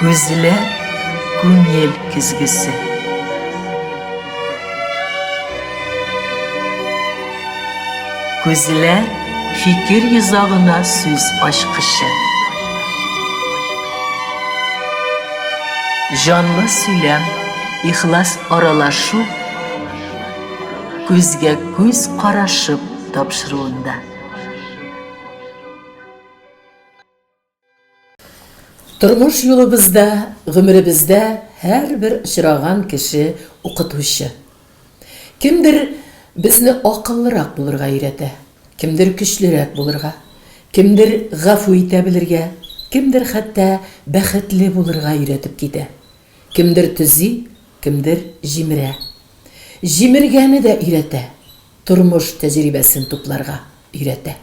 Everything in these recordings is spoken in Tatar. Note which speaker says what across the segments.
Speaker 1: Күзле күңел көзгесе. Күзле фикер йозагына сүз ачкычы. Җанлы сөйләм, ихлас аралашу күзгә күз карашып тапшыруында.
Speaker 2: Тормыш юлыбызда, гомеребездә һәрбер очраган кеше укытучы. Кемдер безне акыллырак булырга өйрәтә, кемдер көчлерәк булырга, кемдер гафу итә белергә, кемдер хәтта бәхетле булырга өйрәтеп китә. Кемдер төзи, кемдер җимерә. Җимергәне дә өйрәтә, тормыш тәҗрибәсен тупларга өйрәтә.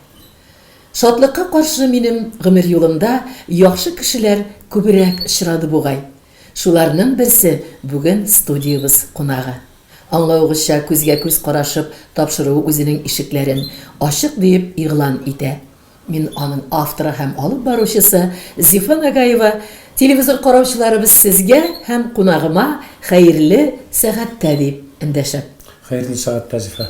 Speaker 2: Шатлыкка каршы минем гомер юлымда яхшы кешеләр күбрәк очрады бугай. Шуларның берсе бүген студиябез кунагы. Аңлавыгызча, күзгә-күз карашып тапшыру үзенең ишекләрен ачык диеп игълан итә. Мин аның авторы һәм алып баручысы Зифа Нагаева, телевизор караучыларыбыз сезгә һәм кунагыма хәерле сәгатьтә дип эндәшәм. Хәерле сәгатьтә,
Speaker 3: Зифа.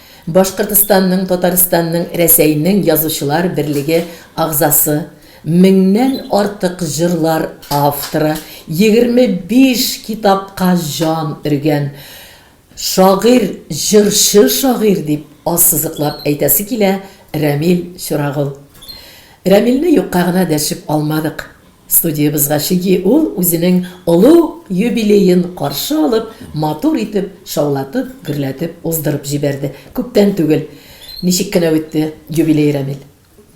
Speaker 2: Башкортстанның, Татарстанның, Рәсәйнең Язучылар берлеге агъзасы, меңнән артык җырлар авторы, егерме биш китапка җан өргән шагыйрь, җырчы шагыйрь, дип ассызыклап әйтәсе килә Рәмил Чурагол. Рәмилне юкка гына дәшеп алмадык. Студиябезгә чыги ул үзенең олуг юбилеен каршы алып, матур итеп шаулатып, гөрләтеп уздырып җибәрде. Күптән түгел. Ничек кенә үтте юбилей, Рәмил?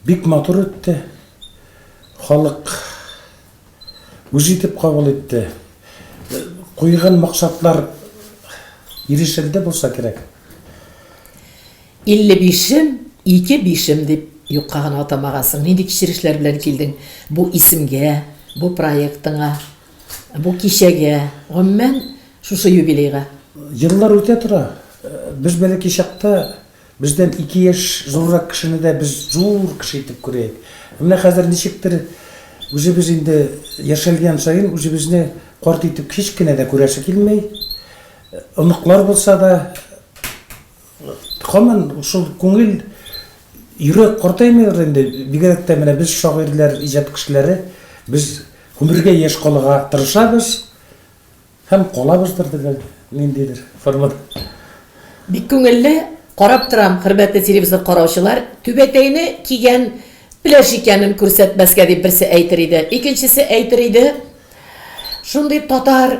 Speaker 2: Бик матур
Speaker 3: үтте. Халык үз итеп кабул итте. Куйган максатлар ирешелде булса кирәк. Илле
Speaker 2: бишем, ике бишем дип юкка гына атамагансың. Нинди кичерешләр белән килдең бу исемгә, бу проектыңа, бу кичәгә, гомумән, шушы юбилейга? Еллар үтә
Speaker 3: тора. Без бәләкәй чакта бездән ике яшь зуррак кешене дә без зур кеше итеп күрә идек. Ә менә хәзер ничектер үзебез инде яшәлгән саен үзебезне карт итеп һич кенә дә күрәсе килми. Оныклар булса да. Камын шул күңел йөрәк картаймыйдыр инде, бигрәк тә менә без шагыйрьләр, иҗат кешеләре, без гомергә яшь калырга тырышабыз һәм калабыздыр дип ниндидер формада. Бик
Speaker 2: күңелле, карап торам, хөрмәтле телевизор караучылар, түбәтәйне кигән пләш икәнен күрсәтмәскә дип берсе әйтер иде, икенчесе әйтер иде, шундый татар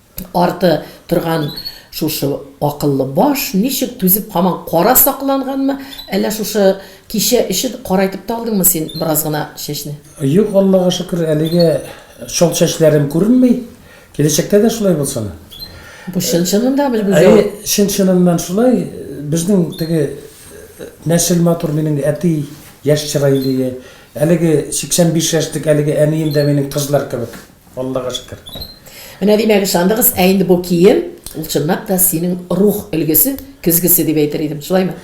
Speaker 2: арты торган шушы акыллы баш ничек түзеп һаман кара сакланганмы, әллә шушы кичә өчен карайтып та алдыңмы син бераз гына чәчне? Юк, Аллага
Speaker 3: шөкер, әлегә чал чәчләрем күренми. Киләчәктә дә шулай булсын. Бу
Speaker 2: чын-чынында бер гүзәл. Әйе, чын-чыныннан шулай.
Speaker 3: Безнең теге нәсел матур, минем әти яшь чырайлы иде. Әлеге 85 яшьлек әлеге әнием дә минем кызлар кебек. Аллага шөкер. Менә димәк
Speaker 2: ышандыгыз, ә инде бу кием, ул чынлап та синең рух өлгесе, көзгесе дип әйтер идем, шулаймы?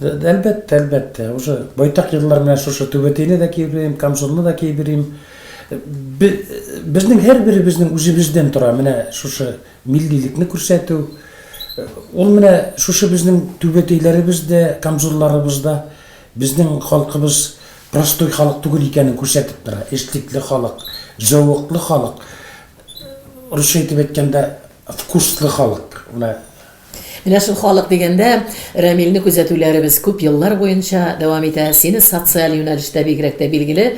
Speaker 2: Әлбәттә,
Speaker 3: әлбәттә. Уже байтак еллар менә шушы түбәтәйне дә киеп йөрим, камзулны да киеп йөрим. Безнең һәрберебезнең үзебездән тора менә шушы миллилекне күрсәтү. Ул менә шушы безнең түбәтәйләребез дә, камзулларыбыз да Безнең халкыбыз простой халык түгел икәнен күрсәтеп тора. Эшлекле халык, зәвыклы халык, русча итеп әйткәндә, вкуслы халык. Менә.
Speaker 2: Менә шул халык дигәндә, Рәмилне күзәтүләребез күп еллар буенча дәвам итә. Сине социаль юнәлештә бигрәк тә билгеле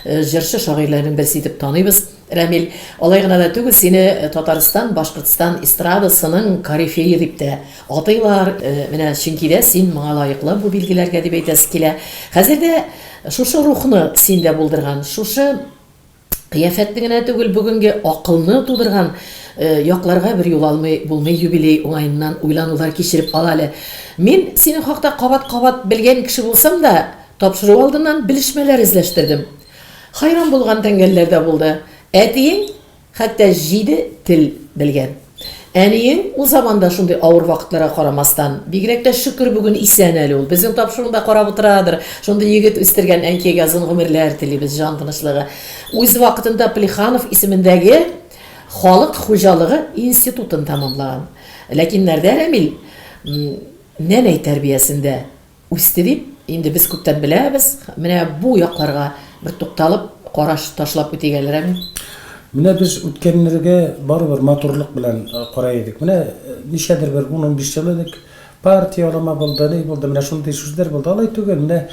Speaker 2: җырчы-шагыйрьләрнең берсе итеп таныйбыз. Рәмил, алай гына да түгел, сине Татарстан, Башкортстан эстрадасының корифее дип тә атыйлар. Менә чөнки дә син моңа лаеклы бу билгеләргә дип әйтәсе килә. Хәзер дә шушы рухны синдә булдырган, шушы кыяфәтне генә түгел, бүгенге акылны тудырган якларга бер юл алмый булмый, юбилей уңаеннан уйланулар кичереп ал әле. Мин синең хакта кабат-кабат белгән кеше булсам да, тапшыру алдыннан белешмәләр эзләштердем. Хәйран булган тәңгәлләр дә булды. Әтиең хәтта җиде тел белгән. Әниең ул заманда шундый авыр вакытларга карамастан, бигрәк тә шөкер бүген исән әле ул, безнең тапшыруында карап утырадыр, шундый егет үстергән әнкәйгә озын гомерләр телибез, җан тынычлыгы. Үз вакытында Плеханов исемендәге халык хуҗалыгы институтын тәмамлаган. Ләкин Нәрдә Рәмил м, нәнәй тәрбиясендә. Үсте дип, инде без күптән беләбез. Менә бу якларга бер тукталып, караш ташлап үтик әле, Рәмил. Менә без
Speaker 3: үткәннәргә барыбер матурлык белән карый идек. Менә ничәдер бер ун-унбиш ел элек партия алама булды, ни булды, менә шундый сүзләр булды. Алай түгел, менә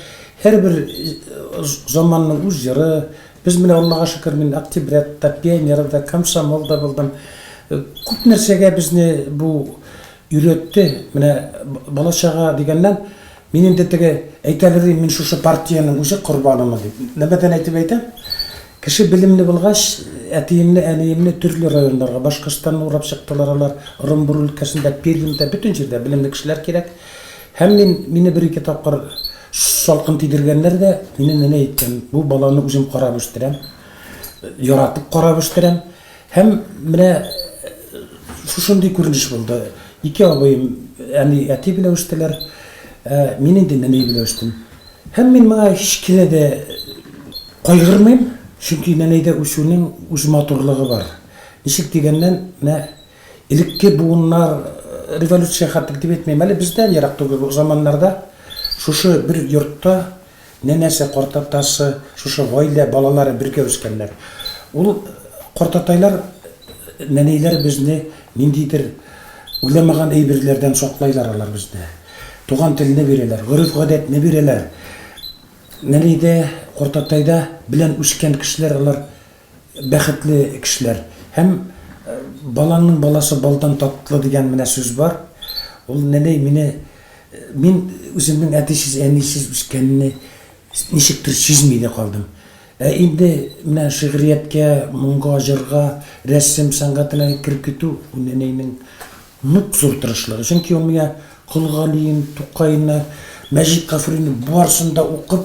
Speaker 3: һәрбер заманның үз җыры. Без менә, Аллага шөкер, мин октябрят та, пионер да, комсомол да булдым. Күп нәрсәгә безне бу Өйрәтте, менә бала чага дигәннән, мин инде теге әйтәләр ди, мин шушы партиянең үзе корбанымы дип. Нәмәдән әйтеп әйтәм, кеше белемле булгач, әтиемне, әниемне төрле районнарга, Башкортстанны урап чыктылар алар, Ырымбур өлкәсендә, Пермьдә, бөтен җирдә белемле кешеләр кирәк. Һәм мин, мине бер-ике тапкыр салкын тидергәннәр дә, минем әни әйткән, бу баланы үзем карап үстерәм, яратып карап үстерәм. Һәм менә шушындый күренеш булды. Ике абыем әни, әти белән үстеләр. Мин инде нәни белән үстем. Һәм мин моңа һич кенә дә кайгырмыйм, чөнки нәнәйдә үсүнең үз матурлыгы бар. Ничек дигәннән, менә элекке буыннар, революция хәтлек дип әйтмим әле, бездән ерак түгел заманнарда шушы бер йортта Нәнәсе, картатасы, шушы гаилә балалары бергә үскәннәр. Ул картатайлар, нәнәйләр безне ниндидер уйламаган әйберләрдән саклайлар алар безне. Туган телне бирәләр, гореф-гадәтне бирәләр. Нәнәйдә, картатайда белән үскән кешеләр алар. бәхетле кешеләр. Һәм балаңның баласы балдан татлы дигән менә сүз бар. Ул нәни мине мин үземнең әтисез, әнисез үскәнне ничектер сизми дә калдым. Ә инде менә шигърияткә, моңга, җырга, рәсем сәнгатенә кереп китү бу нәнәйнең нык зур тырышлыгы. Чөнки ул миңа Кол Галиен, Тукайны, Мәҗит Гафурине барысын да укып,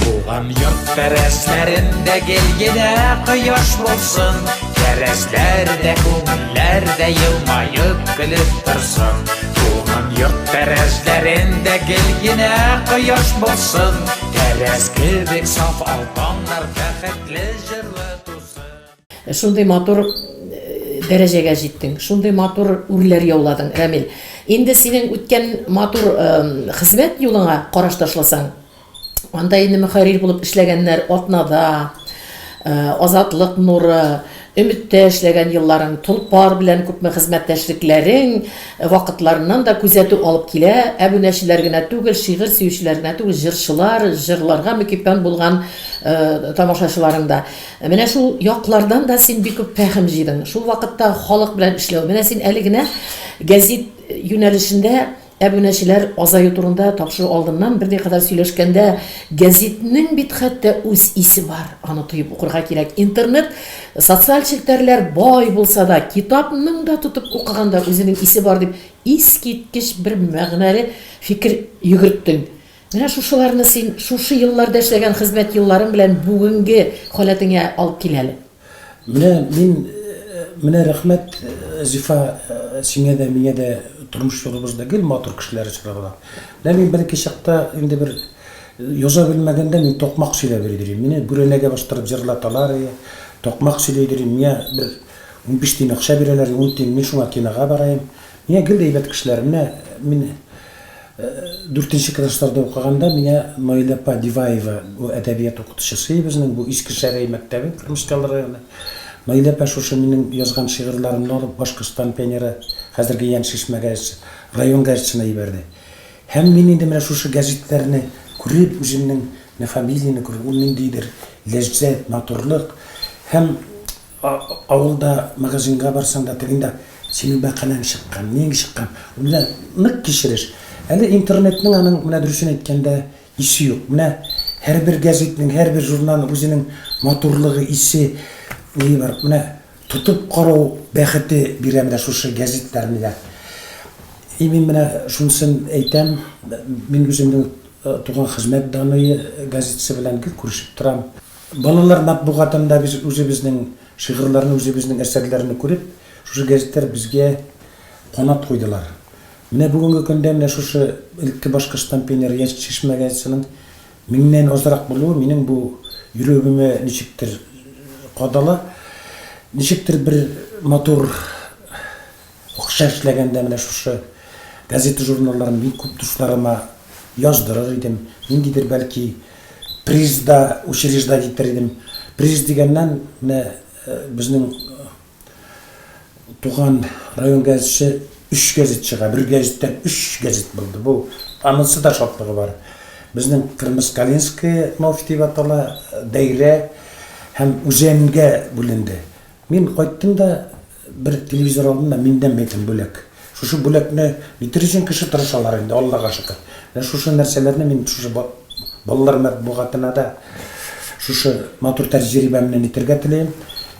Speaker 4: Туган йорт тәрәзләрендә гел генә кояш булсын, Тәрәзләрдә, күңелләрдә елмаеп көлеп торсын. Туган йорт тәрәзләрендә гел генә кояш булсын, Тәрәз кебек саф алтаннар бәхетле җырлы тусын. Шундый матур
Speaker 2: дәрәҗәгә җиттең, шундый матур үрләр яуладың, Рәмил. Инде синең үткән матур хезмәт юлыңа караш ташласаң, Анда инде мөхәррир булып эшләгәннәр Атнада, Азатлык нуры, Өметтә эшләгән елларың, Толпар белән күпме хезмәттәшлекләрең, вакытларыннан да күзәтү алып килә. Әбүнәчеләр генә түгел, шигырь сөючеләр генә түгел, җырчылар, җырларга мөкиббән булган тамашачыларың да. Менә шул яклардан да син бик күп фәһем җыйдың. Шул вакытта халык белән эшләү. Менә син әле генә гәзит юнәлешендә Әбүнәчеләр азаю турында тапшыру алдыннан бер дәкыйкада сөйләшкәндә, гәзитнең бит хәтта үз исе бар, аны тоеп укырга кирәк. Интернет, социаль челтәрләр бай булса да, китапның да тотып укыганда үзенең исе бар, дип искиткеч бер мәгънәле фикер йөгерттең. Менә шушыларны син шушы елларда эшләгән хезмәт елларың белән бүгенге халәтеңә алып кил әле. Менә мин,
Speaker 3: менә рәхмәт, Зифа, сиңә дә, миңа дә тормыш юлыбызда гел матур кешеләр очраган. Менә мин беренче чакта инде бер яза белмәгәндә мин токмак сөйләп өлгерим. Мине бүрәнәгә бастырып җырлаталар, ие, токмак сөйли өлгерим. Миңа бер унбиш тиен акча бирәләр, ун тиен, мин шуңа кинога бараем. Миңа гел дә әйбәт кешеләр. Менә мин дүртенче классларда укыганда, миңа Наилә апа Диваева, бу әдәбият укытучысы безнең, бу Иске Шәрәй мәктәбе, Кырмыскалы районы. Наилә апа шушы минем язган шигырьләремне алып, Башкортстан пионеры, хәзерге Ян Шишмә газетасы, район газетасына җибәрде. Һәм мин инде менә шушы гәзитләрне күреп, үземнең менә фамилияне күреп, ул ниндидер ләззәт, матурлык һәм. Авылда магазинга барсаң да, тегең дә, Синең бәкаләң чыккан, ниең чыккан? Ул менә нык кичереш. Әле интернетның аның, менә дөресен әйткәндә, исе юк. Менә һәрбер гәзитнең, һәрбер журналның үзенең матурлыгы, исе, ние бар. Менә тотып карау бәхете бирә менә шушы гәзитләр миңа. И мин менә шунысын әйтәм, мин үземнең Туган хезмәт даные газетасы белән гел күрешеп торам. Балалар матбугатында без үзебезнең шигырьләрне, үзебезнең әсәрләрне күреп, шушы гәзитләр безгә канат куйдылар. Менә бүгенге көндә менә шушы элекке башкорт штампенеры Яшел чишмә газетасының меңнән азрак булуы минем бу йөрәгемә ничектер кадала. Ничектер бер матур. Акча эшләгәндә менә шушы газета-журналларны бик күп дусларыма яздырыр идем. Ниндидер, бәлки, приз да учреждать итер идем. Приз дигәннән, менә безнең туган район газетче өч газет чыга. Бер газеттән өч газет булды. Бу анысы да шатлыгы бар. Безнең Кырмыскалинское Мафь дип атала, Дәйрә һәм Үзәнгә бүленде. Мин кайттым да бер телевизор алдым да миндән бирдем бүләк. Шушы бүләкне нитер өчен кеше тырышалар инде, Аллага шөкер. Менә шушы нәрсәләрне мин шушы балалар мәтбугатына да шушы матур тәҗрибәмне нитергә телим.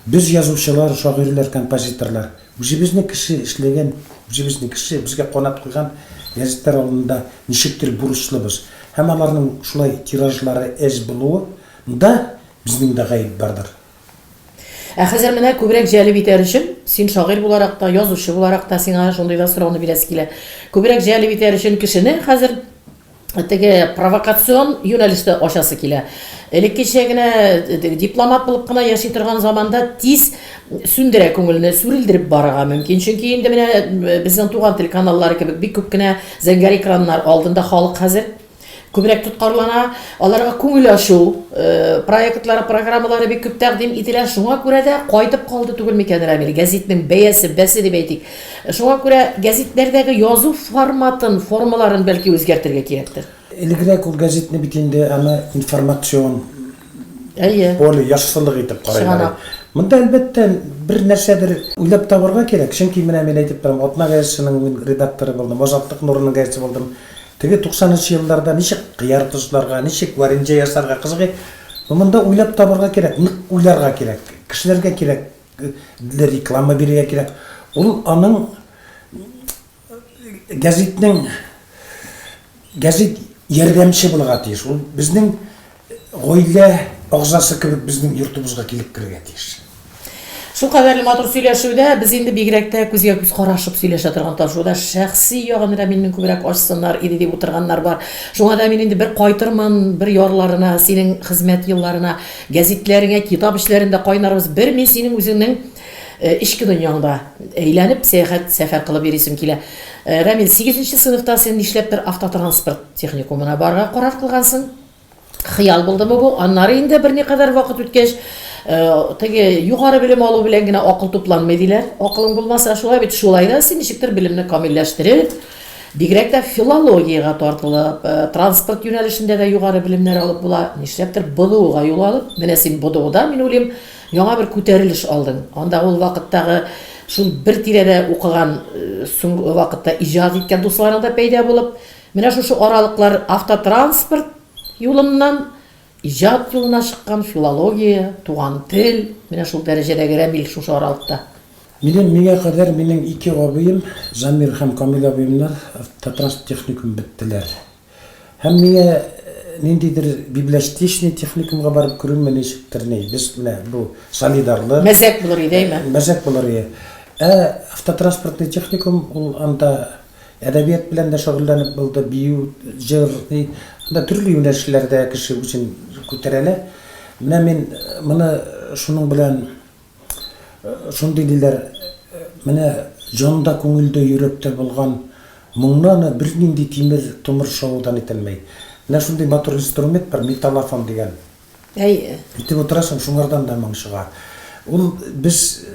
Speaker 3: Без язучылар, шагыйрьләр, композиторлар үзебезнең кеше эшләгән, үзебезнең кеше безгә канат куйган гәзитләр алдында ничектер бурычлыбыз. Һәм аларның шулай тиражлары әз булуы нда безнең дә гаеп бардыр. Ә
Speaker 2: хәзер менә күбрәк җәлеп итәр өчен, син шагыйрь буларак та, язучы буларак та сиңа шундый да сорауны бирәсе килә. Күбрәк җәлеп итәр өчен кешене хәзер теге провокацион юнәлештә ачасы килә. Элеккечә генә дипломат булып кына яши торган заманда тиз сүндерә күңелне, сүрелдереп барырга мөмкин. Чөнки инде менә безнең туган телеканаллар кебек бик күп кенә зәңгәр экраннар алдында халык хәзер. Күбрәк тоткарлана, аларга күңел ачу проектлары, программалары бик күп тәкъдим ителә. Шуңа күрә дә кайтып калды түгел микән Рамил гәзитнең бәясе, бәсе дип әйтик. Шуңа күрә гәзитләрдәге язу форматын, формаларын бәлки үзгәртергә кирәктер. Элегрәк ул
Speaker 3: гәзитне бит инде аны информацион Әйе.
Speaker 2: Поле яссылык итеп
Speaker 3: карыйлар. Чынлап. Монда әлбәттә бер нәрсәдер уйлап табарга кирәк. Чөнки менә мин әйтеп торам, Атна гәзитенең мин редакторы булдым, Азатлык нурының гәзите булдым. Теге туксанынчы елларда ничек кыяр тозларга, ничек вареньҗә ясарга кызыгый, монда уйлап табарга кирәк, нык уйларга кирәк, кешеләргә кирәк дле реклама бирергә кирәк. Ул аның гәзитнең гәзит ярдәмче булырга тиеш. Ул безнең Гаилә агзасы кебек безнең йортыбызга килеп керергә тиеш. Шул
Speaker 2: кадәрле матур сөйләшүдә без инде бигрәк тә күзгә күз карашып сөйләшә торган ташуда шәхси ягын Рәмилнең күбрәк ачсыннар иде дип утырганнар бар. Шуңа да мин инде бер кайтырмын, бер ярларына, синең хезмәт елларына, гәзитләреңә, китап эшләрендә кайнарбыз. Бер мин синең үзеңнең э, эчке дөньяңда әйләнеп, сәяхәт, сәфәр кылып йөрисем килә. Э, Рәмил, 8 нче сыйныфта син нишләптер автотранспорт техникумына барырга карар кылгансың? Хыял булдымы бу? Аннары инде берникадәр вакыт үткәч, теге югары белем алу белән генә акыл тупланмый диләр. Акылың булмаса, шулай бит, шулай да син ничектер белемне камилләштереп, бигрәк тә филологиягә тартылып, транспорт юнәлешендә дә югары белемнәр алып була, нишләптер БДУга юл алып, менә син БДУда, мин уйлыйм, яңа бер күтәрелеш алдың. Анда ул вакыттагы шул бер тирәдә укыган, соңгы вакытта иҗат иткән дусларың да пәйда булып, Менә шушы аралыклар автотранспорт юлыннан иҗат юлына чыккан филология, туган тел, менә шул дәрәҗәдәге Рәмил шушы аралыкта. Минем миңа
Speaker 3: кадәр минем ике абыем, Замир һәм Камил абыемнар автотранспорт техникумын беттеләр. Һәм миңа ниндидер библиостечный техникумга барып керүемә ничектер ни, без менә бу солидарлык. Мәзәк булыр иде, әйме?
Speaker 2: Мәзәк булыр иде.
Speaker 3: Ә автотранспортный техникум ул анда Әдәбият белән дә шөгыльләнеп булды, бию, җыр, ни, анда төрле юнәлешләрдә кеше үзен күтәрәлә. Менә мин моны шуның белән шундый диләр, менә җанда, күңелдә, йөрәктә булган моңны аны бернинди тимер, томыр шавыдан итәлмәй. Менә шундый матур инструмент бар, металлофон дигән. Әйе. Итеп утырасың, шуңардан да моң чыга. Ул без,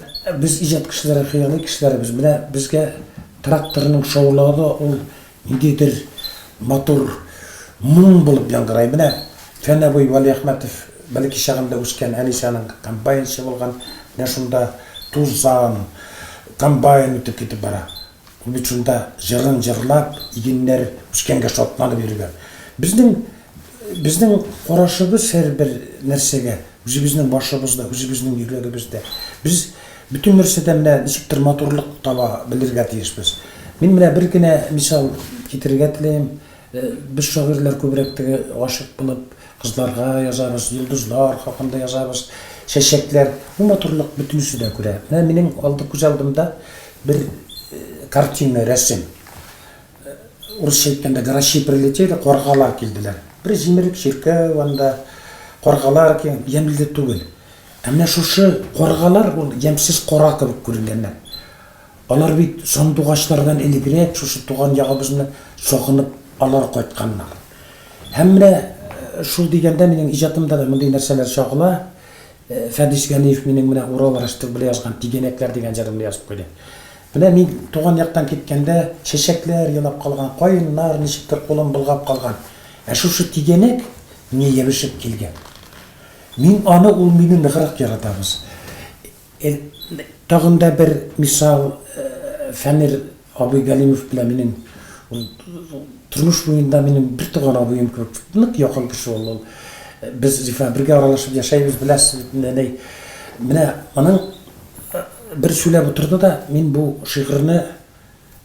Speaker 3: без иҗат кешеләре, хыялый кешеләрбез. Менә безгә тракторның шаулавы да ул ниндидер матур моң булып яңгырай. Менә Фән абый Вәлиәхмәтов бәләкәй чагында үскән Әнисәнең комбайнчы булган, менә шунда тузан, комбайн үтеп китеп бара. Ул бит шунда җырын җырлап, игеннәр үскәнгә шатланып йөргән. Безнең, безнең карашыбыз һәрбер нәрсәгә, үзебезнең башыбызда, үзебезнең йөрәгебездә. Без бөтен нәрсәдә менә ничектер матурлык таба белергә тиешбез. Мин менә бер генә мисал китерергә теләем. Без шагыйрьләр күбрәк теге гашыйк булып кызларга язабыз, йолдызлар хакында язабыз, чәчәкләр. Бу матурлык бөтенесе дә күрә. Менә минем алды күз алдымда Бер картина, рәсем. Урысча әйткәндә грачи прилетели, каргалар килделәр. Бер җимерек чиркәү анда, каргалар килгән, ямьле түгел. Ә менә шушы каргалар ул ямьсез кара кебек күренгәннәр. Алар бит сандугачлардан элегрәк шушы туган ягыбызны сагынып алар кайтканнар. Һәм менә шул дигәндә минем иҗатымда да мондый нәрсәләр чагыла. Фәдис Галиев минем менә Урал рәште белән язган Тигәнәкләр дигән җырымны язып куйды. Менә мин туган яктан киткәндә, чәчәкләр елап калган, каеннар ничектер кулын болгап калган. Ә шушы тигәнәк миңа ябышып килгән. Мин аны, ул мине ныграк яратабыз. Тагын да бер мисал, Фәнир абый Галимов белән минем ул тормыш буенда минем бер туган абыем кебек нык якын кеше ул ул. Без Зифа бергә аралашып яшәйбез, беләсез бит инде, әнәй. Менә аның бер сөйләп утырды да, мин бу шигырьне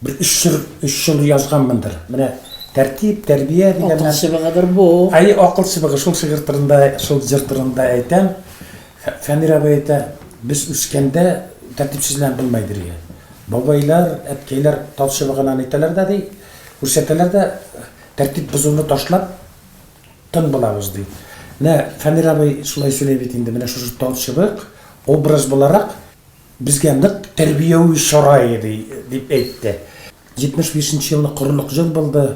Speaker 3: Бер өч җыр, өч җыр язганмындыр. Менә тәртип, тәрбия дигәннән. Акыл чыбыгыдыр бу.
Speaker 2: Әйе, акыл чыбыгы. Шул
Speaker 3: шигырь турында, шул җыр турында әйтәм. Фәнир абый әйтә, без үскәндә тәртипсезләнеп булмый иде, ди. Бабайлар, әткәйләр тал чыбыгыннан әйтәләр дә, ди, күрсәтәләр дә, тәртип бозуны ташлап, тын булабыз, ди. Менә Фәнир абый шулай сөйли бит инде. Менә шушы тал чыбык образ буларак. Безгә нык тәрбияви чара иде, дип әйтте. 75 нче елны корылык җыр булды.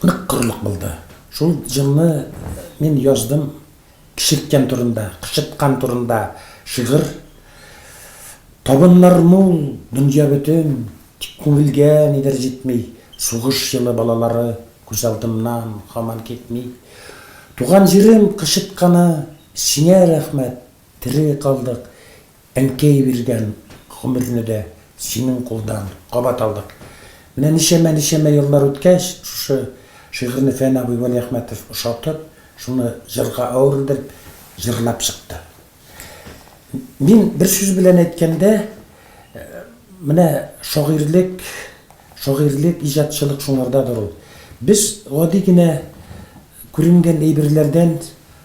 Speaker 3: Нык корылык булды. Шул җырны мин яздым Кечерткән турында, кычыткан турында шигырь. Табыннар мул, дөнья бөтен, тик күңелгә нидер җитми. Сугыш җылы балалары күз алдымнан һаман китми. Туган җирем кычытканы, сиңә рәхмәт, Тере калдык, әнкәй биргән гомерне дә синең кулдан кабат алдык. Менә ничәмә-ничәмә еллар үткәч, шушы шигырьне Фән абый Вәлиәхмәтов ошатып, шуны җырга әверелдереп җырлап чыкты. Мин бер сүз белән әйткәндә, менә шагыйрьлек, шагыйрьлек, иҗатчылык шуңардадыр ул. Без гади генә күренгән әйберләрдән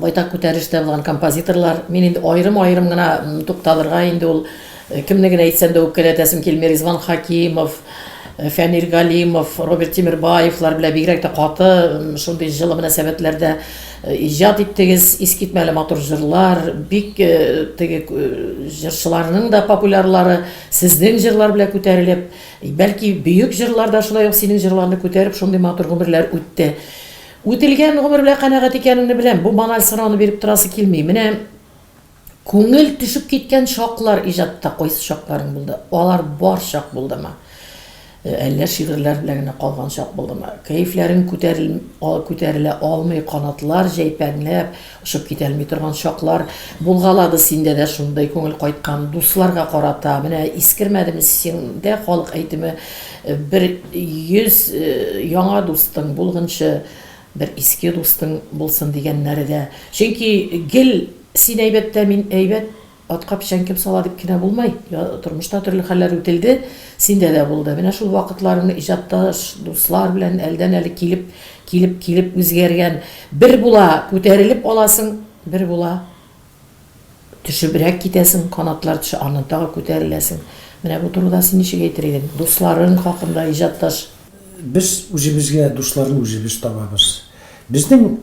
Speaker 2: байтак күтәрештә булган композиторлар. Мин инде аерым-аерым гына тукталырга инде ул э, кемне генә әйтсәм дә үпкәләтәсем килми. Ризван Хакимов, э, Фәнир Галимов, Роберт Тимирбаевлар белән бигрәк тә каты шундый җылы мөнәсәбәтләрдә э, иҗат иттегез. Искитмәле матур җырлар, бик теге җырчыларның да популярлары сезнең җырлар белән күтәрелеп, бәлки бөек җырлар да шулай ук синең җырларны күтәреп шундый матур гомерләр үтте. Үтелгән гомер белән канәгать икәнеңне беләм, бу баналь сорауны биреп торасы килми. Менә күңел төшеп киткән чаклар иҗатта кайсы чакларың булды? Алар бар чак булдымы? Әллә шигырьләр белән генә калган чак булдымы? Кәефләрең күтәрел, а, күтәрелә алмый, канатлар җәйпәнләп, Очып китәлми торган чаклар булгалады синдә дә шундый күңел кайткан дусларга карата менә искермәдеме сиңдә халык әйтеме бер йөз яңа дустың булгынчы бер иске дустың булсын дигәннәре дә чөнки гел син әйбәттә мин әйбәт Атка печән кем сала дип кенә булмый. Тормышта төрле хәлләр үтелде, синдә дә булды. Менә шул вакытларың иҗатташ, дуслар белән әлдән-әле килеп, килеп, килеп үзгәргән. Бер була, күтәрелеп аласың, бер була, төшебрәк китәсең, канатлар төшә, аннан тагы күтәреләсең. Менә бу турыда син ничек әйтер идең? Дусларың хакында, иҗатташ. Без
Speaker 3: үзебезгә дусларны үзебез табабыз. Безнең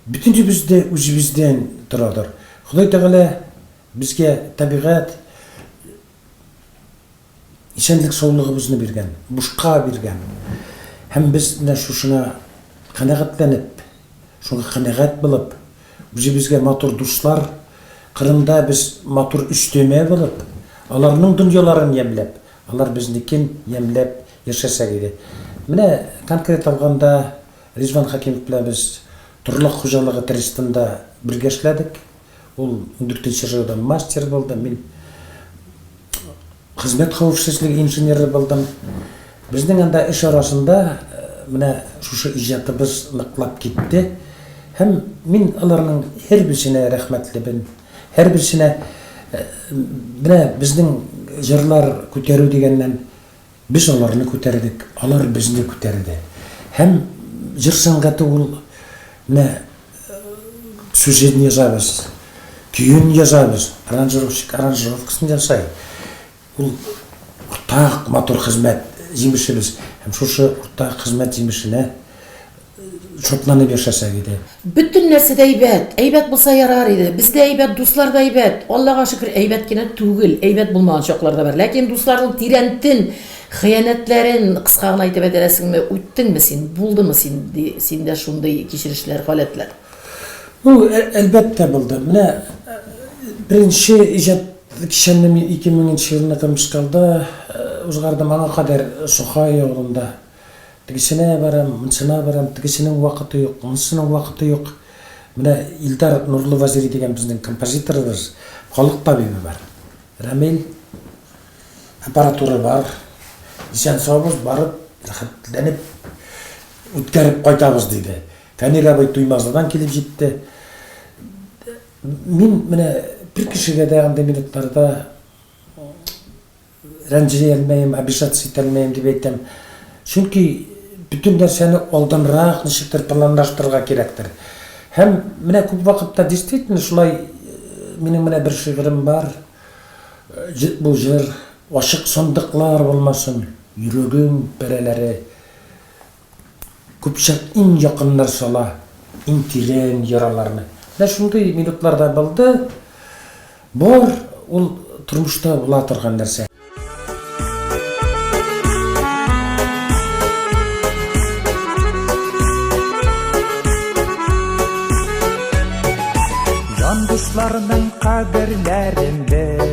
Speaker 3: Бөтенебез дә үзебездән торадыр. Ходай Тәгалә безгә табигать, исәнлек-саулыгыбызны биргән, бушка биргән. Һәм без менә шушына канәгатьләнеп, шуңа канәгать булып, үзебезгә матур дуслар, кырында без матур өстәмә булып, аларның дөньяларын ямьләп, алар безнекен ямьләп яшәсәк иде. Менә конкрет алганда, Ризван Хәкимов белән без Торлык хуҗалыгы трестында бергә эшләдек. Ул ундүртенче РЭОда мастер булды, мин хезмәт хәвефсезлеге инженеры булдым. Безнең анда эш арасында менә шушы иҗатыбыз ныклап китте. Һәм мин аларның һәрберсенә рәхмәтлебен. Һәрберсенә менә безнең җырлар күтәрү дигәннән, Без аларны күтәрдек, алар безне күтәрде. Һәм җыр сәнгате ул, менә сюжетын язабыз, көен язабыз, аранжировщик аранжировкасын ясай. Ул уртак матур хезмәт җимешебез. Һәм шушы уртак хезмәт җимешенә. шатланып яшәсәк иде. Бөтен нәрсә дә
Speaker 2: әйбәт. Әйбәт булса ярар иде. Без дә әйбәт, дуслар да әйбәт. Аллага шөкер, әйбәт кенә түгел. Әйбәт булмаган чаклар да бар. Ләкин дусларның тирәнтен, хыянәтләрен, кыска гына әйтеп әтәрәсеңме, үттеңме син, булдымы син, ди, синдә шундый кичерешләр, халәтләр? Ну,
Speaker 3: ә, әлбәттә булды. Менә э, беренче иҗат кичәмне мин 2000 елны Томскалда э, узгардым, аңа кадәр Сухай авылында Тегесенә барам, монсына барам, тегесенең вакыты юк, монысының вакыты юк. Менә Илдар Нурлы Вазыйри дигән безнең композиторыбыз, халык табибы бар. Рәмил, аппаратура бар. Исән-саубыз барып, рәхәтләнеп үткәреп кайтабыз, диде. Фәнир абый Туймазыдан килеп җитте. Мин менә бер кешегә дә андый минутларда Рәнҗи алмыйм, обижаться итә алмыйм дип әйтәм. Чөнки бөтен нәрсәне алданрак ничектер планлаштырырга кирәктер. Һәм менә күп вакытта действительно шулай минем менә бер шигырем бар. Бу җыр ачык сандыклар булмасын, йөрәгем пәрәләре. Көпчәк иң якыннар сала, иң тирән яраларны. Менә шундый минутлар да булды. Бар ул тормышта була торган нәрсә.
Speaker 4: Җан дусларның кадерләрен бел.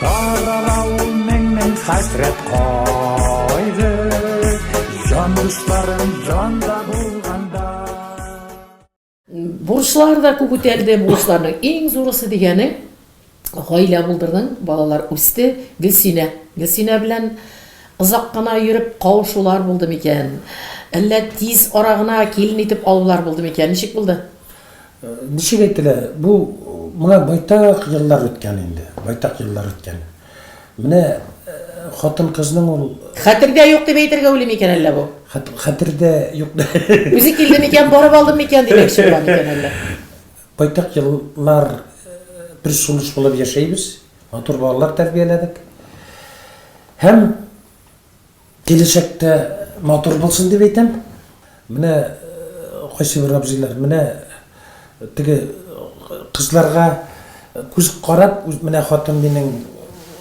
Speaker 4: Тарала ул мең-мең хәсрәт кайды, Җан дусларым җанда булганда.
Speaker 2: Бурычлар да күп үтәлде, бурычларның иң зурысы дигәне, гаилә булдырдың, балалар үсте, Гөлсинә. Гөлсинә белән озак кына йөреп кавышулар булды микән? Әллә тиз ара гына килен итеп алулар булды микән? Ничек булды? Ничек
Speaker 3: әйтелә, бу моңа байтак еллар үткән инде, байтак еллар үткән. Менә хатын-кызның ул. Хәтердә юк дип
Speaker 2: әйтергә уйлыйм икән әллә бу? Хәтердә
Speaker 3: юк. Үзе килде
Speaker 2: микән, барып алды микән димәкче була микән әллә? Байтак
Speaker 3: еллар бер сулыш булып яшәйбез, матур балалар тәрбияләдек. Һәм. Киләчәктә матур булсын дип әйтәм. Менә кайсыбер абзыйлар, менә теге кызларга күз карап, менә хатын минем,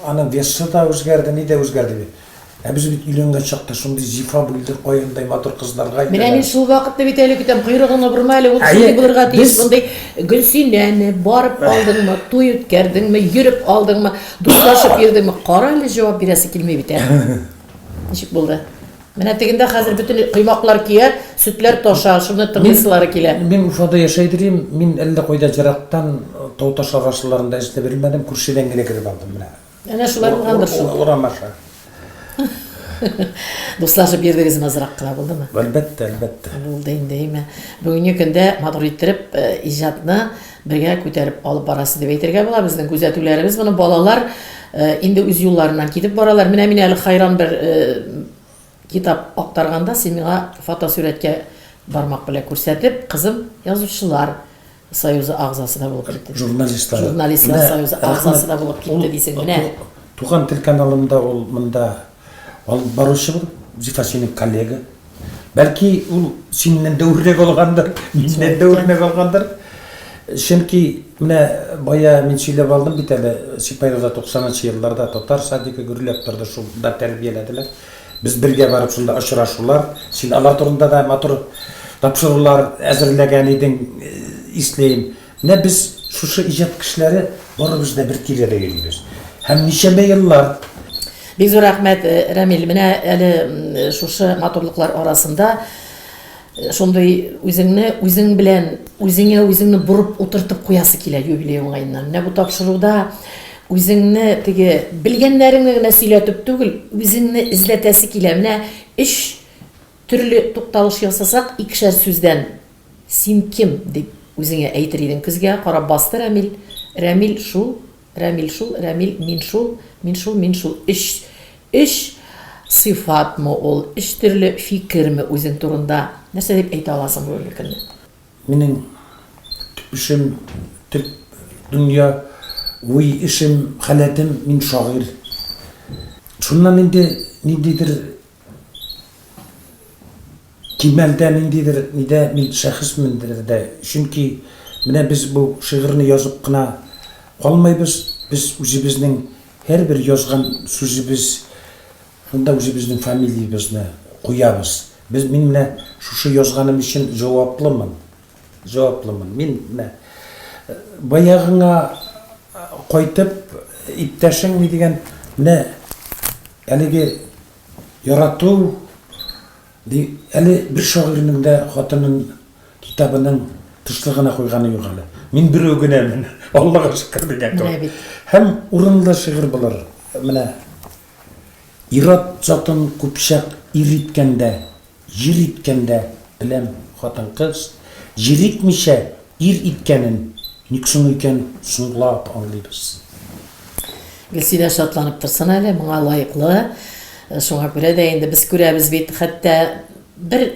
Speaker 3: аның весы да үзгәрде, ни дә үзгәрде бит. Ә без бит өйләнгән чакта шундый зифа бүлдер, каендай матур кызларга әйтәләр. Менә мин шул вакытны
Speaker 2: бит әле көтәм, койрыгың обырма әле, ул шундый булырга тиеш, мондый Гөлсинәне барып алдыңмы, туй үткәрдеңме, йөреп алдыңмы? Дуслашып йөрдеңме? Кара әле, җавап бирәсе килми бит әле. Ничек булды? Менә тегендә хәзер бөтен коймаклар көя, сөтләр таша, шуны тыңлыйсылары килә. Мин Уфада яшәй дирим,
Speaker 3: мин әллә кайда җырактан Тауташ агачларында эшләп йөрмәдем, күршедән генә кереп алдым менә. Әнә шулай булгандыр
Speaker 2: шул. Урам аша. Дуслашып йөрдегез азрак кына булдымы? Әлбәттә, әлбәттә.
Speaker 3: Булды инде, әйме.
Speaker 2: Бүгенге көндә матур иттереп э, иҗатны бергә күтәреп алып барасы дип әйтергә була. Безнең күзәтүләребез моны балалар э, инде үз юлларыннан китеп баралар. Менә мин әле хайран бер э, китап актарганда син миңа фотосурәткә бармак белән күрсәтеп, кызым язучылар Союзы агзасы да булып китте. Журналистлар. Журналистлар союзы агзасы да булып китте дисең, менә. Туган тел
Speaker 3: каналында ул монда алып баручы бу, Зифа синең коллега. Бәлки ул синнән дә үрнәк алгандыр, миннән дә үрнәк алгандыр. Чөнки менә бая мин сөйләп алдым бит әле, Сипаевда 90 нчы елларда татар садигы гөрләп торды, шунда тәрбияләделәр. Без бергә барып шунда очрашулар, син алар турында да матур тапшырулар әзерләгән идең, ислим. Менә без шушы иҗат кешеләре барыбыз да бер тирәдә йөрибез. Һәм ничәмә еллар. Бик зур
Speaker 2: рәхмәт, Рәмил. Менә әле шушы матурлыклар арасында. Шундый үзеңне үзең белән үзеңә үзеңне борып утыртып куясы килә юбилей уңаеннан. Менә бу тапшыруда үзеңне теге белгәннәреңне генә сөйләтеп түгел, үзеңне эзләтәсе килә. Менә өч төрле тукталыш ясасак, икешәр сүздән син кем дип үзеңә әйтер идең. Көзгә карап басты Рәмил. Рәмил шул Рәмил шул, Рәмил, мин шул, мин шул, мин шул. Өч, өч сыйфатмы ул, өч төрле фикерме үзең турында? Нәрсә дип әйтә аласың бүгенге көнне? Минем
Speaker 3: төп эшем, төп дөнья, уй, эшем, халәтем, мин шагыйрь. Шуннан инде ниндидер Кимәлдә ниндидер нидә мин шәхесмендер дә, чөнки менә без бу шигырьне язып кына калмыйбыз, без үзебезнең һәрбер язган сүзебез шунда үзебезнең фамилиябезне куябыз. Без, мин менә шушы язганым өчен җаваплымын. Җаваплымын мин, менә баягыңа кайтып, иптәшең ни дигән, менә әлеге ярату, әле бер шагыйрьнең дә хатынын китабының тышлыгына куйганы юк әле. Мин берәү генәмен, Аллага шөкер дигән кебек. Һәм урынлы шигырь булыр, менә. Ир-ат затын купчак ир иткәндә, җир иткәндә беләм, хатын-кыз җир итмичә ир иткәнен ник соң икән соңлап аңлыйбыз.
Speaker 2: Гөлсинә шатланып торсын әле, моңа лаеклы. Шуңа күрә дә инде без күрәбез бит, хәтта бер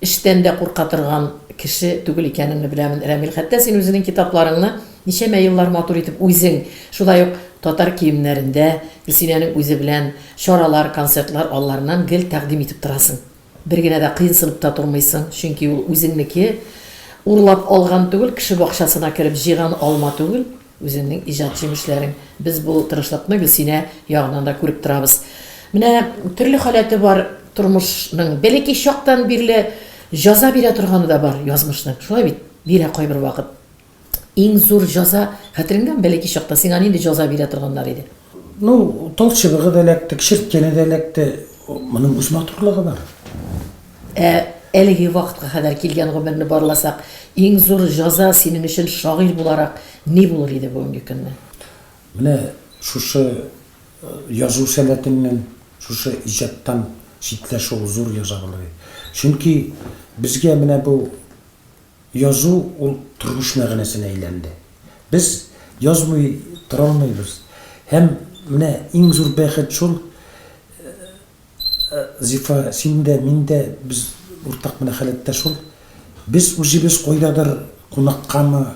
Speaker 2: Эштән дә курка торган кеше түгел икәнеңне беләмен, Рәмил. Хәтта син үзенең китапларыңны ничәмә еллар матур итеп үзең, шулай ук татар киемнәрендә, Гөлсинәнең үзе белән чаралар, концертлар алларыннан гел тәкъдим итеп торасың. Бер генә дә кыенсынып та тормыйсың, чөнки ул үзеңнеке, урлап алган түгел, кеше бакчасына кереп җыйган алма түгел. Үзеңнең иҗат җимешләрең. Без бу тырышлыкны Гөлсинә ягыннан да күреп торабыз. Менә төрле халәте бар тормышның. Бәләкәй чактан бирле җаза бирә торганы да бар язмышның. Шулай бит? Бирә кайбер вакыт. Иң зур җаза, хәтереңдәме, бәләкәй чакта сиңа нинди җаза бирә торганнар иде? Ну, тал
Speaker 3: чыбыгы да эләкте, чирткәне дә эләкте. Моның үз матурлыгы бар. Ә әлеге
Speaker 2: вакытка кадәр килгән гомерне барласак, иң зур җаза синең өчен шагыйрь буларак ни булыр иде бүгенге көнне? Менә
Speaker 3: шушы э, язу
Speaker 2: сәләтеннән,
Speaker 3: шушы иҗаттан читләшү зур яза булыр иде. Чөнки безгә менә бу Язу ул тормыш мәгънәсенә әйләнде. Без язмый тора алмыйбыз. Һәм менә иң зур бәхет шул, Зифа, син дә, мин дә, без уртак менә халәттә шул, без үзебез кайдадыр кунаккамы,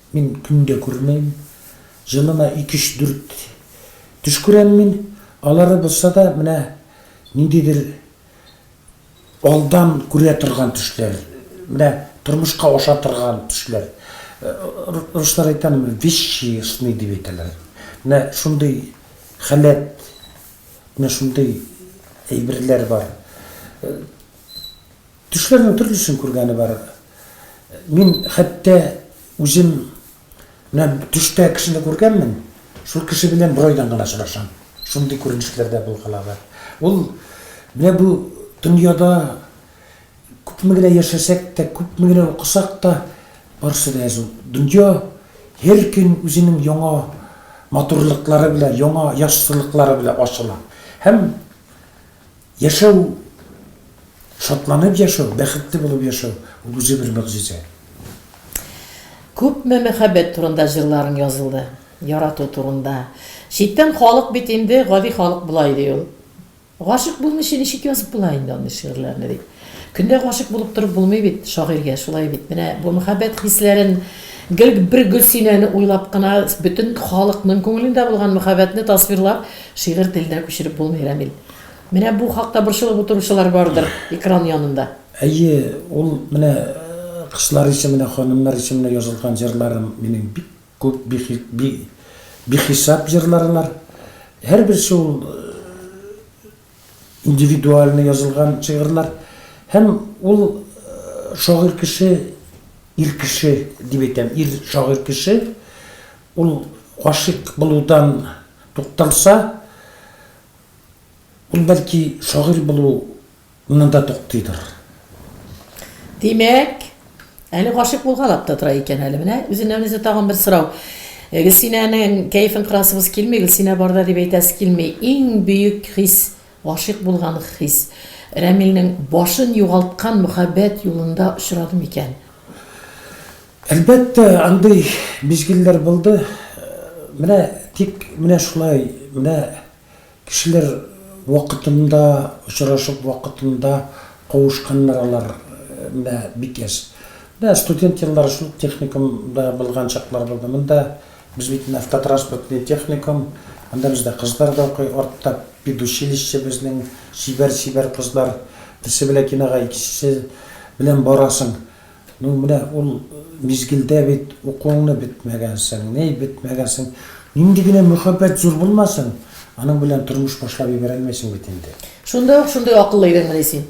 Speaker 3: Мин көн дә күрмим. Елына икеш дүрт төш күрәм мин. Алары булса да менә ниндидер алдан күрә торган төшләр. Менә тормышка аша торган төшләр. Руслар әйтәм, вещи сны дип әйтәләр. Менә шундый халәт, менә шундый әйберләр бар. Төшләрнең төрлесен күргәне бар. Мин хәтта үзем менә төштә кешене күргәнмен, шул кеше белән бер айдан гына очрашам. Шундый күренешләр дә булган ала. Ул менә бу дөньяда күпме генә яшәсәк тә, күпме генә укысак та, барысы да язу. Дөнья һәр көн үзенең яңа матурлыклары белән, яңа яссылыклары белән ачыла. Һәм Яшәү, шатланып яшәү, бәхетле булып яшәү, ул үзе бер могҗиза. Күпме
Speaker 2: мәхәббәт турында җырларың язылды, ярату турында. Читтән халык бит инде, гади халык болай ди ул. Гашыйк булмыйча ничек язып була инде андый шигырьләрне ди. Көндә гашыйк булып торып булмый бит, шагыйрьгә шулай бит. Менә бу мәхәббәт хисләрен гел бер Гөлсинәне уйлап кына, бөтен халыкның күңелендә булган мәхәббәтне тасвирлап, шигырь теленә күчереп булмый, Рәмил. Менә бу хакта борчылып утыручылар бардыр экран янында. Әйе, ул
Speaker 3: менә кызлар өчен, менә ханымнар өчен менә язылган җырларым минем бик күп, бихисап җырларлар. Һәрберсе ул индивидуально язылган шигырьләр. Һәм ул шагыйрь кеше, ир кеше дип әйтәм, ир шагыйрь кеше, ул гашыйк булудан тукталса, Ул бәлки шагыйрь булу нанда туктыйдыр. Димәк,
Speaker 2: әле гашыйк булгалап та тора икән әле. Менә үзеннән үзе тагын бер сорау. Гөлсинәнең кәефен кырасыбыз килми, Гөлсинә барда дип әйтәсе килми. Иң бөек хис, гашыйк булган хис. Рәмилнең башын югалткан мөхәббәт юлында очрады микән? Әлбәттә,
Speaker 3: андый мизгелләр булды. Менә тик менә шулай, менә кешеләр вакытында очрашып, вакытында кавышканнар алар, менә бик яшь. Менә студент еллары шул ук техникумда булган чаклар булды. Монда без бит менә автотранспортный техникум, анда бездә кызлар да укый, артта педучилище безнең, чибәр-чибәр кызлар, берсе белән кинога, икенчесе белән барасың. Ну, менә ул мизгелдә бит укуыңны бетмәгәнсең, ни бетмәгәнсең. Нинди генә мөхәббәт зур булмасын, аның белән тормыш башлап ибәрә алмыйсың бит инде. Шунда ук шундый акыллы
Speaker 2: идеңмени син?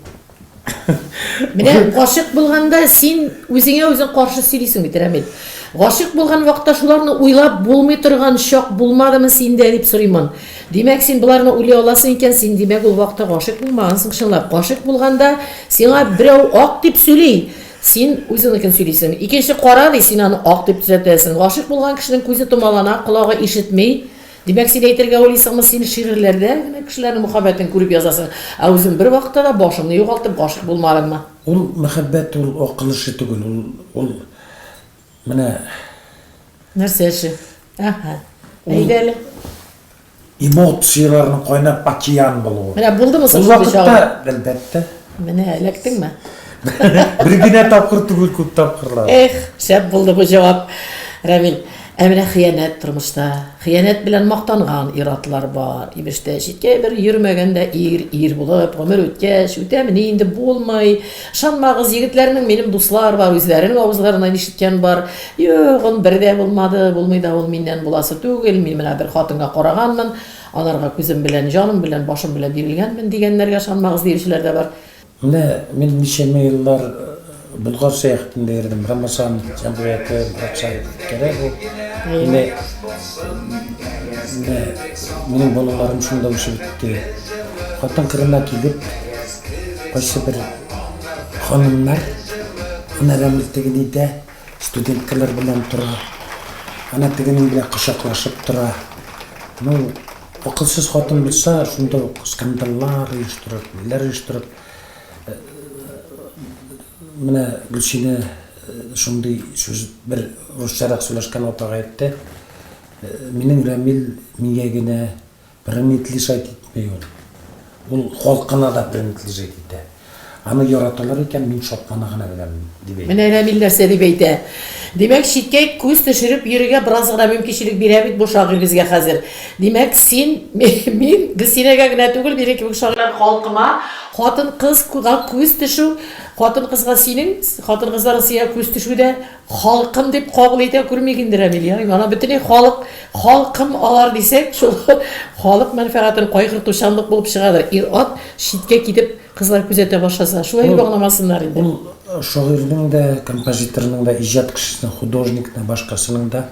Speaker 2: Менә гашыйк булганда син үзеңә үзең каршы сөйлисең бит, Рәмил. Гашыйк булган вакытта шуларны уйлап булмый торган чак булмадымы синдә, дип сорыймын. Димәк, син боларны уйлый аласың икән, син, димәк, ул вакытта гашыйк булмагансың чынлап. Гашыйк булганда, сиңа берәү ак дип сөйли, син үзеңнекен сөйлисең. Икенче кара ди, син аны ак дип төзәтәсең. Гашыйк булган кешенең күзе томалана, колагы ишетми. Димәк, син әйтергә уйлыйсыңмы, син шигырьләрдә генә кешеләрнең мөхәббәтен күреп язасың, ә үзең бервакытта да башыңны югалтып гашыйк булмадыңмы? Ул мәхәббәт,
Speaker 3: ул ак кылычы түгел, ул, ул Менә.
Speaker 2: Нәрсә эше? Аһа. Әйдә әле. Эмоцияләрнең
Speaker 3: кайнап океан булуы. Менә булдымы соң? Ул вакытта,
Speaker 2: әлбәттә.
Speaker 3: Менә эләктеңме?
Speaker 2: Бер
Speaker 3: генә тапкыр түгел, күп тапкырлар. Эх, шәп булды
Speaker 2: бу җавап. Рамил, ә менә хыянәт тормышта. Хыянәт белән мактанган ир-атлар бар. Имештә, читкә бер йөрмәгәндә ир, ир булып, гомер үткәч, үтәмени инде булмый. Ышанмагыз, егетләрнең минем дуслар бар, үзләренең авызларыннан ишеткән бар. Юк, он бер дә булмады, булмый да ул миннән буласы түгел, мин менә бер хатынга караганмын, анарга күзем белән, җаным белән, башым белән бирелгәнмен, дигәннәргә ышанмагыз, диючеләр дә бар. Менә мин
Speaker 3: ничәмә еллар Болгар сәяхәтендә йөрдем, Рамазан җәмгыяте, братча кәрәк ул. Менә, менә минем балаларым шунда үсеп үтте. Хатын кырына килеп, Кайсы бер ханымнар, әнә Рәмил теге нидә, студенткалар белән тора, әнә тегенең белән кочаклашып тора. Ну, акылсыз хатын булса, шунда ук скандаллар оештырып, ниләр оештырып, менә Гөлсинә шундый сүз, бер русчарак сөйләшкән апага әйтте, Минем Рәмил миңа генә Принадлежать итмей ул. Ул халкына да принадлежать итә. Аны яраталар икән, мин шатлана гына беләм, дип әйтә. Менә Рәмил нәрсә дип әйтә.
Speaker 2: Димәк, читкә күз төшереп йөрергә бераз гына мөмкинчелек бирә бит бу шагыйрь безгә хәзер. Димәк, син, мин, Гөлсинәгә генә түгел, минем кебек шагыйрьләр халкыма, хатын-кызга күз төшү, хатын-кызга синең, хатын-кызларның сиңа күз төшүе дә, Халкым дип кабул итә күрмик инде Рәмил ярыйм. Ана бөтенләй халык, халкым алар дисәк, шул халык мәнфәгатен кайгыртучанлык булып чыгадыр. Ир-ат читкә китеп кызлар күзәтә башласа, шулай дип аңламасыннар инде. Ул шагыйрьнең
Speaker 3: дә, композиторның да, иҗат кешесенең, художникның, башкасының да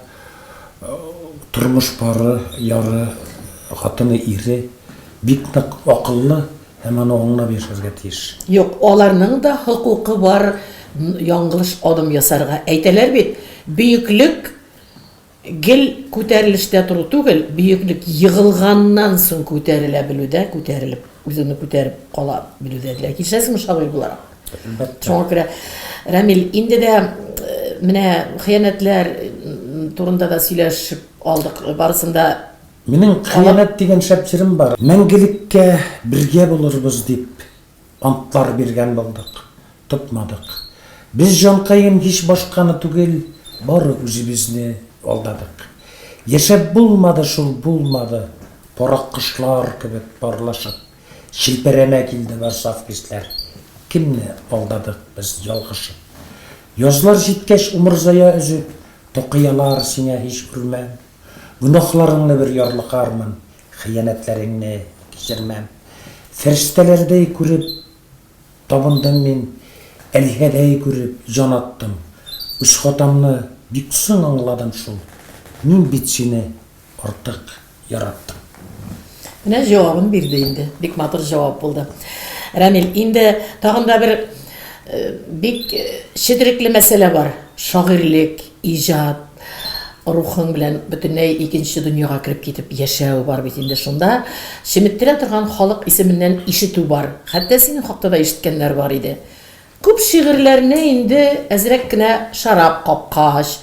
Speaker 3: тормыш пары, яры, хатыны, ире бик нык акыллы, Һәм аны аңлап яшәргә тиеш. Юк, аларның
Speaker 2: да хокукы бар яңгылыш адым ясарга. Әйтәләр бит, бөеклек гел күтәрелештә тору түгел, бөеклек егылганнан соң күтәрелә белүдә, күтәрелеп, үзеңне күтәреп кала белүдә генә. Килешәсеңме шагыйрь буларак? Әлбәттә. Шуңа күрә, Рамил, инде дә менә хыянәтләр турында да сөйләшеп алдык. Барысын да Минем кыямәт
Speaker 3: дигән шәп җырым бар. Мәңгелеккә бергә булырбыз дип антлар биргән булдык, тотмадык. Без җанкаем һич башканы түгел, бары үзебезне алдадык. Яшәп булмады шул, булмады, карак кошлар кебек парлашып, челпәрәмә килде бар саф хисләр. Кемне алдадык без ялгышып? Язлар җиткәч умырзая өзеп, токыялар сиңа һич күрмәм. Гөнаһларыңны бер ярлыкармын, хыянәтләреңне кичермәм. Фәрештәләрдәй күреп табындым мин, Әлиһәдәй күреп җан аттым. Үз хатамны бик соң аңладым шул, Мин бит сине артык яраттым.
Speaker 2: Менә җавабын бирде инде. Бик матур җавап булды. Рәмил, инде тагын да бер бик четерекле мәсьәлә бар, шагыйрьлек. Иҗат рухың белән бөтенләй икенче дөньяга кереп китеп яшәү бар бит инде шунда. Чеметтерә торган халык исеменнән ишетү бар. Хәтта синең хакта да ишеткәннәр бар иде. Күп шигырьләрне инде әзрәк кенә шарап капкач,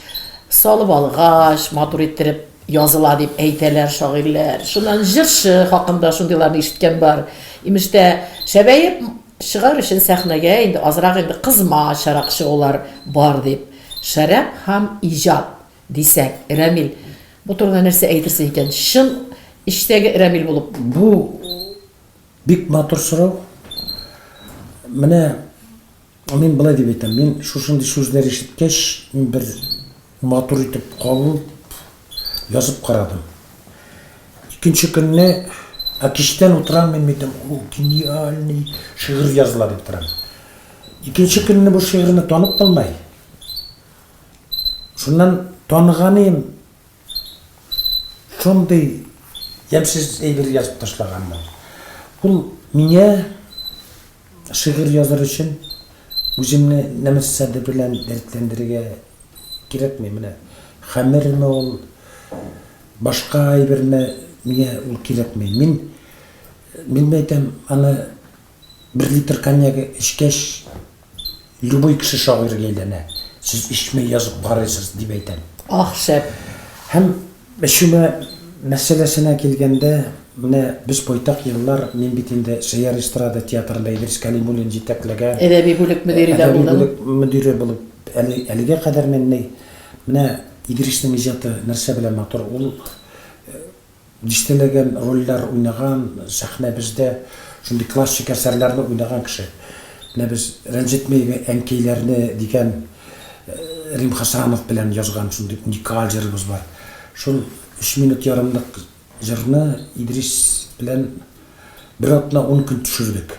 Speaker 2: салып алгач, матур иттереп языла дип әйтәләр шагыйрьләр. Шуннан җырчы хакында шундыйларны ишеткән бар. Имеш тә, шәбәеп. Чыгар өчен сәхнәгә инде азрак инде кызма чарак чыгулар бар дип, Шәраб һәм иҗат, дисәк, Рәмил бу турыда нәрсә әйтерсең икән? Чын эчтәге Рәмил булып. Бу
Speaker 3: бик матур сорау. Менә мин болай дип әйтәм, мин шушындый сүзләр ишеткәч, мин бер Матур итеп кабып, язып карадым. Икенче көнне, Ә кичтән утырам мин митем, ул гениальный шигырь языла дип торам. Икенче көнне бу шигырьне танып булмай. Шуннан таныганыем, шундый ямьсез әйбер язып ташлаганмын. Ул миңа Шигырь языр өчен үзеңне нәмәссә дә белән дәртләндерергә кирәкми, менә хәмерме ул, башка әйберме, миңа ул кирәкми. Мин, мин әйтәм, аны бер литр коньяк эчкәч, Любой кеше шагыйрьгә әйләнә. Сез эчмәй язып карыйсыз, дип әйтәм. Ах, шәп!
Speaker 2: Һәм
Speaker 3: эчүмә мәсьәләсенә килгәндә, менә без байтак еллар, мин бит инде Сәйяр эстрада театрында Идрис Кәлимуллин җитәкләгән. Әдәби бүлек мөдире
Speaker 2: дә булдың. Әдәби бүлек мөдире
Speaker 3: булып, әле, әлегә кадәр мин ни. Менә Идриснең иҗаты нәрсә белән матур, ул, Дистәләгән рольләр уйнаган, сәхнәбездә шундый классик әсәрләрне уйнаган кеше. Менә без Рәнҗетмәйбе әнкәйләрне дигән Рим Хәсәнов белән язган шундый уникаль җырыбыз бар. Шул өч минут ярымлык җырны Идрис белән бер атна-ун көн төшердек.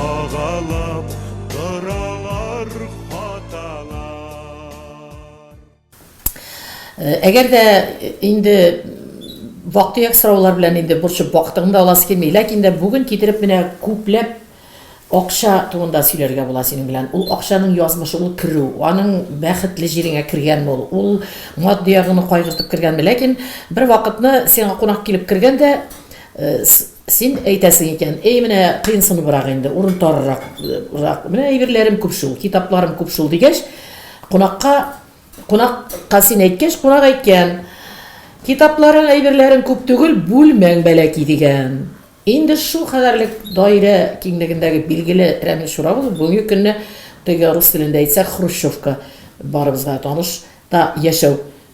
Speaker 5: Агалап торалар хаталар.
Speaker 2: Әгәр дә инде вактыяк сораулар белән инде борчып вакытын да аласы килми, ләкин дә бүген китереп менә күпләп акча турында сөйләргә була синең белән. Ул акчаның язмышы, ул керү, аның бәхетле җиреңә кергәнме ул, ул матди ягыңны кайгыртып кергәнме? Ләкин бер вакытны сиңа кунак килеп кергән дә, Син әйтәсең икән, Әй, менә кыенсыныбрак инде, урын тарырак, рак, менә әйберләрем күп шул, китапларым күп шул, дигәч, кунакка, кунак ка син әйткәч, кунак әйткән, Китапларың, әйберләрең күп түгел, бүлмәң бәләки, дигән. Инде шул кадәрлек даирә киңлегендәге билгеле Рәмил Чурабов бүгенге көнне теге рус телендә әйтсәк, хрущевка, барыбызга таныш та яшәү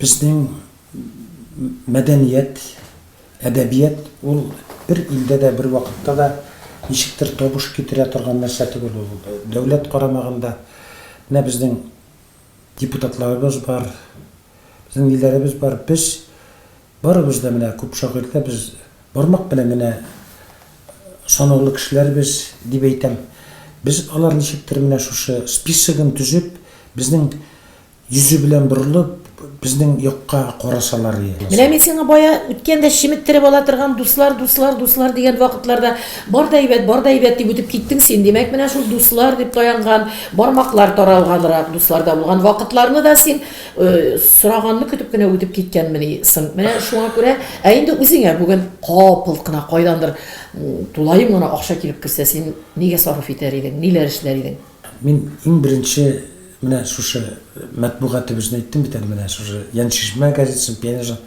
Speaker 2: Безнең
Speaker 3: мәдәният, әдәбият ул бер илдә дә, бер вакытта да ничектер табыш китерә торган нәрсә түгел ул. Дәүләт карамагында менә безнең депутатларыбыз бар, безнең ниләребез бар. Без барыбыз да менә күп шагыйрьдә без бармак белән генә санаулы кешеләрбез дип әйтәм. Без алар ничектер менә шушы списогын төзеп, безнең Йөзе белән борылып, безнең якка карасалар иде. Менә мин сиңа бая
Speaker 2: үткәндә чеметтереп ала торган дуслар, дуслар, дуслар дигән вакытларда бар да әйбәт, бар да әйбәт дип үтеп киттең син. Димәк, менә шул дуслар дип таянган, бармаклар таралганрак дусларда булган вакытларны да син сораганны көтеп кенә үтеп киткәнмени соң? Менә шуңа күрә, ә инде үзеңә бүген капылт кына кайдандыр тулаем гына акча килеп керсә, син нигә сарыф итәр идең, ниләр эшләр идең? Мин иң
Speaker 3: беренче менә шушы мәтбугат дип үзен әйттем бит әле менә шушы Яншишмә газетасын пионерга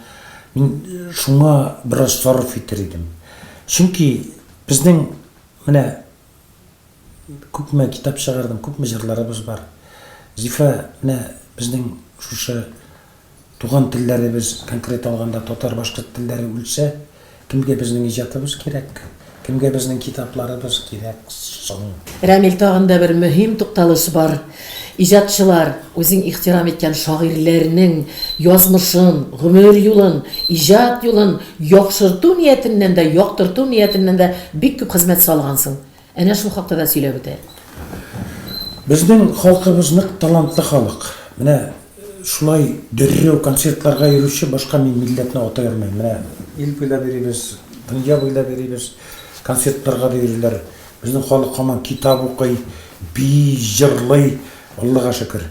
Speaker 3: мин шуңа бераз сарыф итер идем. Чөнки безнең менә күпме китап чыгардым, күпме җырларыбыз бар. Зифа менә безнең шушы Туган телләребез, конкрет алганда татар-башкорт телләре үлсә, кемгә безнең иҗатыбыз кирәк? Кемгә безнең китапларыбыз кирәк соң? Рәмил, тагын да
Speaker 2: бер мөһим тукталыш бар. Иҗатчылар, үзең ихтирам иткән шагыйрьләрнең язмышын, гомер юлын, иҗат юлын яхшырту ниятеннән дә, яктырту ниятеннән дә бик күп хезмәт салгансың. Әнә шул хакта да сөйләп үтә.
Speaker 3: Безнең халкыбыз нык талантлы халык. Менә шулай дөррәү концертларга йөрүче башка мин милләтне атай алмыйм. Менә ил буйлап йөрибез, дөнья буйлап йөрибез, концертларга да йөриләр. Безнең халык һаман китап укый, бии, җырлый, Аллага шөкер.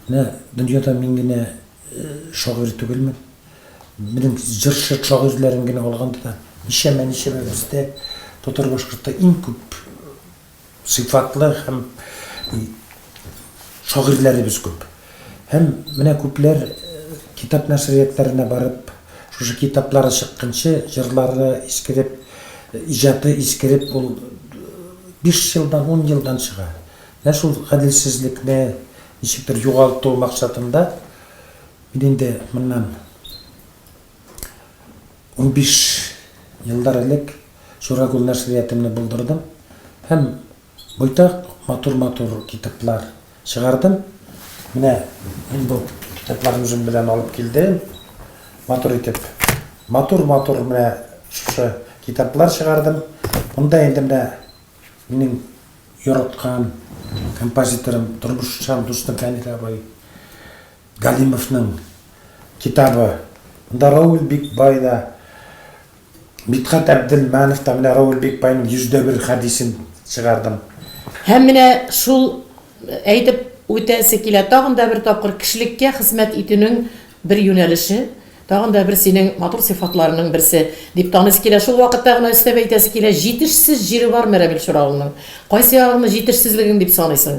Speaker 3: Менә дөньяда мин генә Шагыйрь түгелмен. Минем җырчы шагыйрьләрен генә алганда да, ничәмә-ничәмә бездә татар башкортта иң күп сыйфатлы һәм шагыйрьләребез күп. Һәм менә күпләр китап нәшриятләренә барып, шушы китаплары чыкканчы, җырлары искереп, иҗаты искереп, ул биш елдан, ун елдан чыга. Менә шул гаделсезлекне ничектер югалту максатында, мин инде моннан унбиш еллар элек Шурагул нәшриятымны булдырдым һәм байтак матур-матур китаплар чыгардым. Менә мин бу китапларны үзем белән алып килдем. Матур итеп, матур-матур менә шушы китаплар чыгардым. Монда инде менә Минем яраткан композиторым, тормышчан дустым Фәнил абый Галимовның китабы. Монда Равил Бикбай да, Мидхәт Әбделманов та, менә Равил Бикбайның 100 дә бер хәдисен чыгардым. Һәм менә
Speaker 2: шул Әйтеп үтәсе килә, тагын да бер тапкыр кешелеккә хезмәт итүнең бер юнәлеше, тагын да бер синең матур сыйфатларының берсе, дип таныйсы килә. Шул вакытта гына өстәп әйтәсе килә, җитешсез җире бармы Рәмил Чуравылның? Кайсы ягыңны җитешсезлегең дип саныйсың?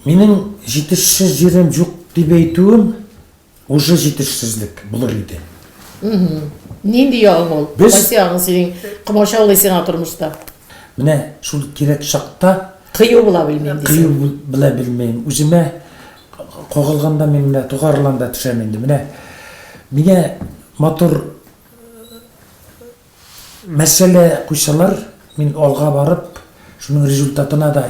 Speaker 2: Минем
Speaker 3: җитешсез җирем юк дип әйтүем, Уже җитешсезлек булыр иде.
Speaker 2: Нинди ягың ул? Без... Кайсы ягың синең комачаулый сиңа тормышта? Менә
Speaker 3: шул кирәк чакта кыю була белмим.
Speaker 2: Кыю була
Speaker 3: белмим. Үземә кагылганда мин менә тугарыланда төшәм инде. Менә миңа матур мәсьәлә куйсалар, мин алга барып, шуның результатына да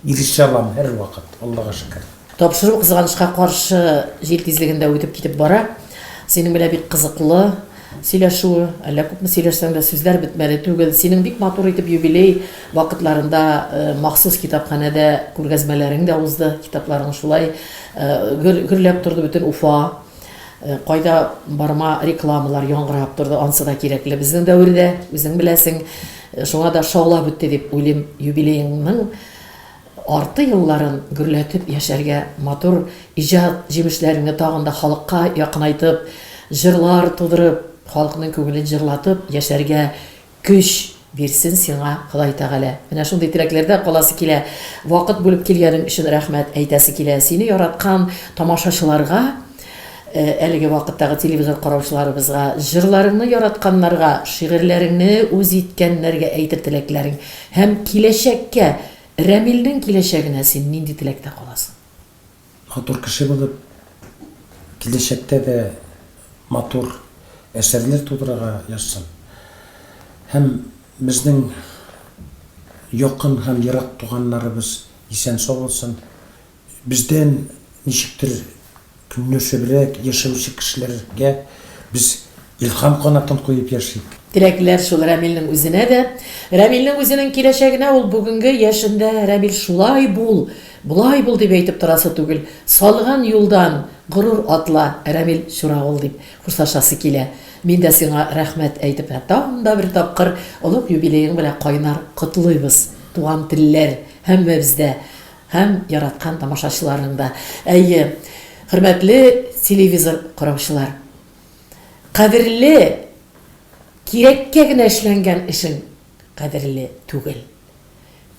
Speaker 3: Ирешә алам һәрвакыт, Аллага шөкер. Тапшыру кызганычка
Speaker 2: каршы җил тизлегендә үтеп китеп бара. Синең белән бик кызыклы сөйләшү, әллә күпме сөйләшсәң дә сүзләр бетмәле түгел. Синең бик матур итеп юбилей вакытларында махсус китапханәдә күргәзмәләрең дә узды, китапларың шулай гөр, гөрләп торды бөтен Уфа. Кайда барма рекламалар яңгырап торды, ансы да кирәкле безнең дәвердә, үзең беләсең. Шуңа да шаулап үтте дип уйлыйм юбилееңның арты елларын гөрләтеп яшәргә, матур иҗат җимешләреңне тагын да халыкка якынайтып, җырлар тудырып, халыкның күңелен җырлатып яшәргә көч бирсен сиңа Ходай Тәгалә. Менә шундый теләкләрдә каласы килә. Вакыт бүлеп килгәнең өчен рәхмәт әйтәсе килә. Сине яраткан тамашачыларга. Әлеге вакыттагы телевизор караучыларыбызга, җырларыңны яратканнарга, шигырьләреңне үз иткәннәргә әйтер теләкләрең һәм киләчәккә, Рәмилнең киләчәгенә син нинди теләктә каласың? Матур
Speaker 3: кеше булып, киләчәктә дә матур әсәрләр тудырырга язсын һәм безнең якын һәм ерак туганнарыбыз исән-сау булсын. Бездән ничектер көнләшебрәк яшәүче кешеләргә без илһам канатын куеп яшик. Теләкләр шул
Speaker 2: Рәмилнең үзенә дә, Рәмилнең үзенең киләчәгенә ул бүгенге яшендә Рәмил шулай бул, болай бул дип әйтеп торасы түгел, салган юлдан горур атла, Рәмил чуравыл дип хушлашасы килә. Мин дә сиңа рәхмәт әйтеп һәм тагын да бер тапкыр олуг юбилеең белән кайнар котлыйбыз, туган телләр һәммәбездә Һәм яраткан тамашачыларың да. Әйе, хөрмәтле телевизор караучылар. Кадерле, кирәккә генә эшләнгән эшең кадерле түгел.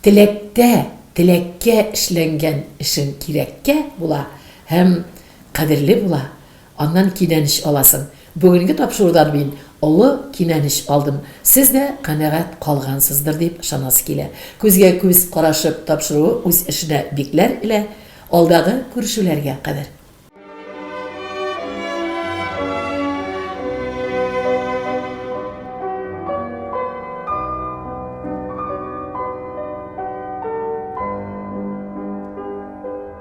Speaker 2: Теләктә, теләккә эшләнгән эшең кирәккә була һәм кадерле була, Аннан кинәнеч аласың. Бүгенге тапшырудан мин олы кинәнеч алдым. Сез дә канәгать калгансыздыр дип ышанасы килә. Күзгә күз карашып тапшыруы үз эшенә бикләр элә. Алдагы күрешүләргә кадәр.